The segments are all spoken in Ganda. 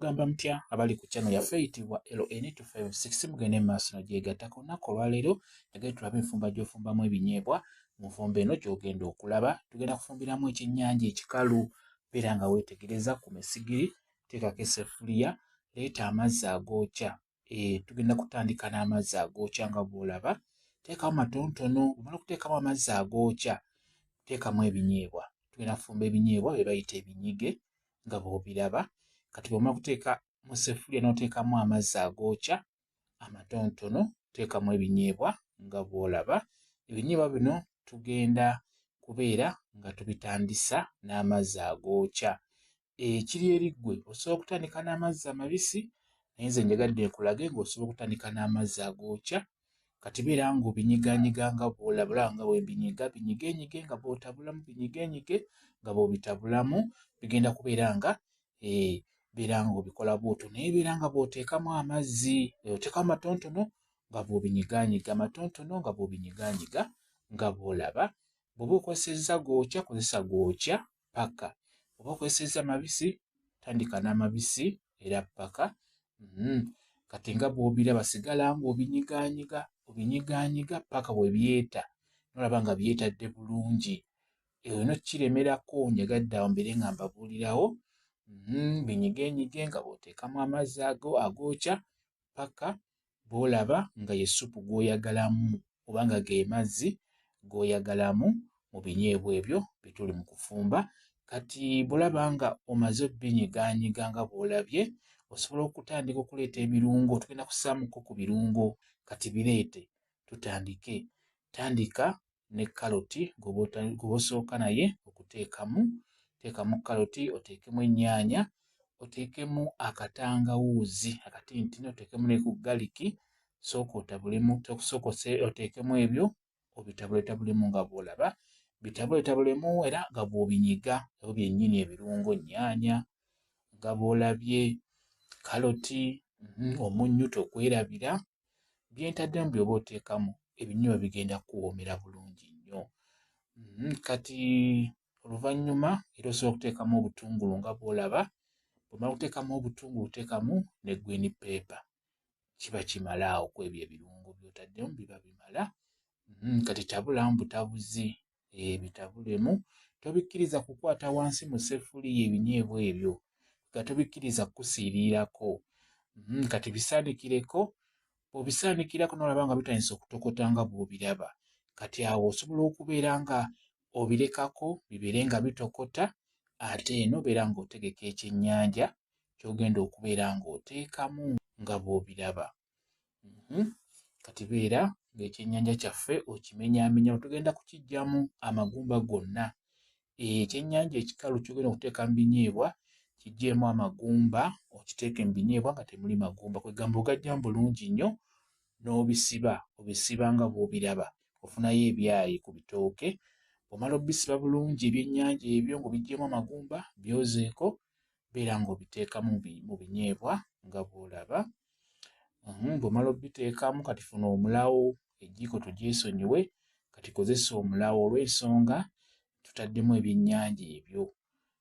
Mugamba mutya abali ku channel yaffe eyitibwa LN256 mugende mu maaso nagyegattako nnaku olwaleero yagende tulabe enfumba gy'ofumbamu ebinyeebwa mu nfumba eno gy'ogenda okulaba tugenda kufumbiramu ekyennyanja ekikalu beera nga weetegereza ku mesigiri teekako eseffuliya leeta amazzi agookya eh, tugenda kutandika n'amazzi agookya nga bw'olaba teekawo matonotono omala okuteekamu amazzi agookya teekamu ebinyeebwa tugenda kufumba ebinyeebwa bye bayita ebinyige nga bw'obiraba kati bw'omala kuteeka mu sefuliya n'oteekamu amazzi agookya amatonotono teekamu ebinyeebwa nga bw'olaba ebinyeebwa bino tugenda kubeera nga tubitandisa n'amazzi agookya ekiri eri ggwe osobola okutandika n'amazzi amabisi naye nze njagadde nkulage ng'osobola okutandika n'amazzi agookya kati beera ng'obinyiganyiga nga bwolabula nga webinyiga binyigenyige nga bwotabulamu binyigenyige nga bwobitabulamu bigenda kubeera nga eh, beera ng'obikola bwotyo naye beera nga bwoteekamu amazzi eh, oteekamu amatontono nga bwobinyiganyiga amatontono nga bwobinyiganyiga nga bwolaba bwoba okozesezza gookya kozesa gookya paka oba okozesezza mabisi tandika n'amabisi era paka mm-hmm. kati nga bwobiraba sigala nga obinyiganyiga obinyiganyiga paka webyeta nolaba nga byetadde bulungi eyo no kiremerako njagadde awo mbere nga mbabuulirawo mm-hmm. binyigenyige nga bwoteekamu amazzi ago agokya paka bw'olaba nga ye ssupu gw'oyagalamu oba nga ge mazzi g'oyagalamu mu binyeebwa ebyo bye tuli mu kufumba. Kati bw'olaba nga omaze obinyigaanyiga nga bw'olabye, osobola okutandika okuleeta ebirungo. Tugenda kussaamuko ku birungo, kati bireete tutandike. Tandika ne kaloti gw'osooka naye okuteekamu. Teekamu kaloti, oteekemu ennyaanya, oteekemu akatangawuuzi akatintini, oteekemu ne ku galiki. Sooka otabulemu, sooka oteekemu ebyo obitabuletabulemu nga bw'olaba. Bitabuletabulemu era nga bw'obinyiga ebyo byennyini ebirungo, nnyaanya nga bw'olabye, kaloti, mhm, omunnyu tokwerabira. byentaddemu byoba oteekamu ebinyuma bigenda kuwoomera bulungi nnyo mm, kati oluvannyuma era osobola okuteekamu obutungulu nga bwolaba bwomala okuteekamu obutungulu oteekamu ne green paper kiba kimala awo kwebyo ebirungo byotaddemu biba bimala mm, kati tabulamu butabuzi ebitabulemu tobikkiriza kukwata wansi mu seffuliya ebinyeebwa ebyo nga tobikkiriza kukusiiriirako hmm, kati bisaanikireko obisaanikirako nolaba nga bitandisa okutokota nga bwobiraba kati awo osobola okubeera nga obirekako bibeere nga bitokota ate eno obeera ng'otegeka ekyennyanja kyogenda okubeera ng'oteekamu nga bwobiraba mhm. kati beera ng'ekyennyanja kyaffe okimenyaamenya tugenda kukijjamu amagumba gonna eh, ekyennyanja ekikalu kyogenda okuteeka mu binyeebwa kijjeemu amagumba okiteeke mu binyeebwa nga temuli magumba kwegamba ogajjamu bulungi nnyo n'obisiba obisiba nga bw'obiraba ofunayo ebyayi ku bitooke omala obisiba bulungi ebyennyanja ebyo ng'obijjeemu amagumba byozeeko beera ng'obiteekamu mu binyeebwa nga bw'olaba hmm, bw'omala obiteekamu kati funa omulawo ejiiko tugyesonyiwe kati kozesa omulawo olw'ensonga tutaddemu ebyennyanja ebyo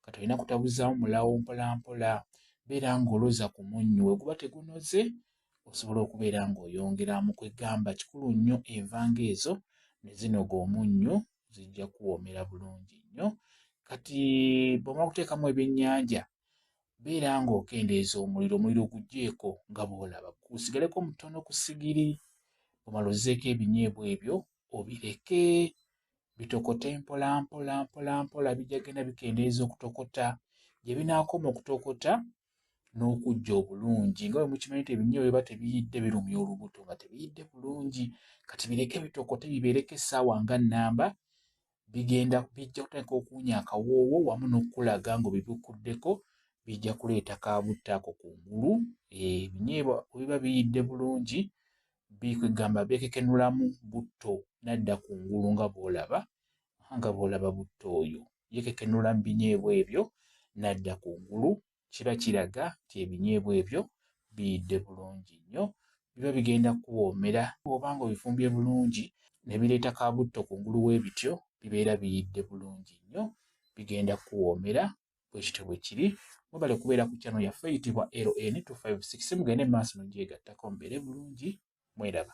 kati olina kutabuzaamu mulawo mpolampola beera ng'oloza ku munnyu we guba tegunoze osobola okubeera ng'oyongeramu kwegamba kikulu nnyo envanga ezo ne zinoga omunnyu zijja kuwoomera bulungi nnyo kati bw'omala okuteekamu ebyennyanja beera ng'okendeeza omuliro omuliro ogugyeko nga bw'olaba gusigaleko mutono ku sigiri bw'omala ozeeko ebinyeebwa ebyo obireke bitokote mpola mpola mpola mpola bijja genda bikendeeza okutokota gye binaakoma okutokota n'okujja obulungi nga bwe mukimanyi nti ebinyo biba tebiyidde birumya olubuto nga tebiyidde bulungi kati bireke bitokote bibeereko essaawa nga nnamba bigenda bijja kutandika okuwunya akawoowo wamu n'okukulaga ng'obibukuddeko bijja kuleeta kabutta ako ku ngulu ebinyeebwa eh, webiba biyidde bulungi bikwegamba bekekenulamu butto nadda ku ngulu nga bwolaba nga bwolaba butto oyo yekekenula mu binyeebwa ebyo n'adda ku ngulu kiba kiraga nti ebinyeebwa ebyo biyidde bulungi nnyo biba bigenda kukuwoomera bw'oba nga obifumbye bulungi ne bireeta ka butto ku ngulu w'ebityo bibeera biyidde bulungi nnyo bigenda kukuwoomera bwe kityo bwe kiri mwebale kubeera ku kyano yaffe eyitibwa ln 256 mugende mu maaso nogyegattako mubeere bulungi mweraba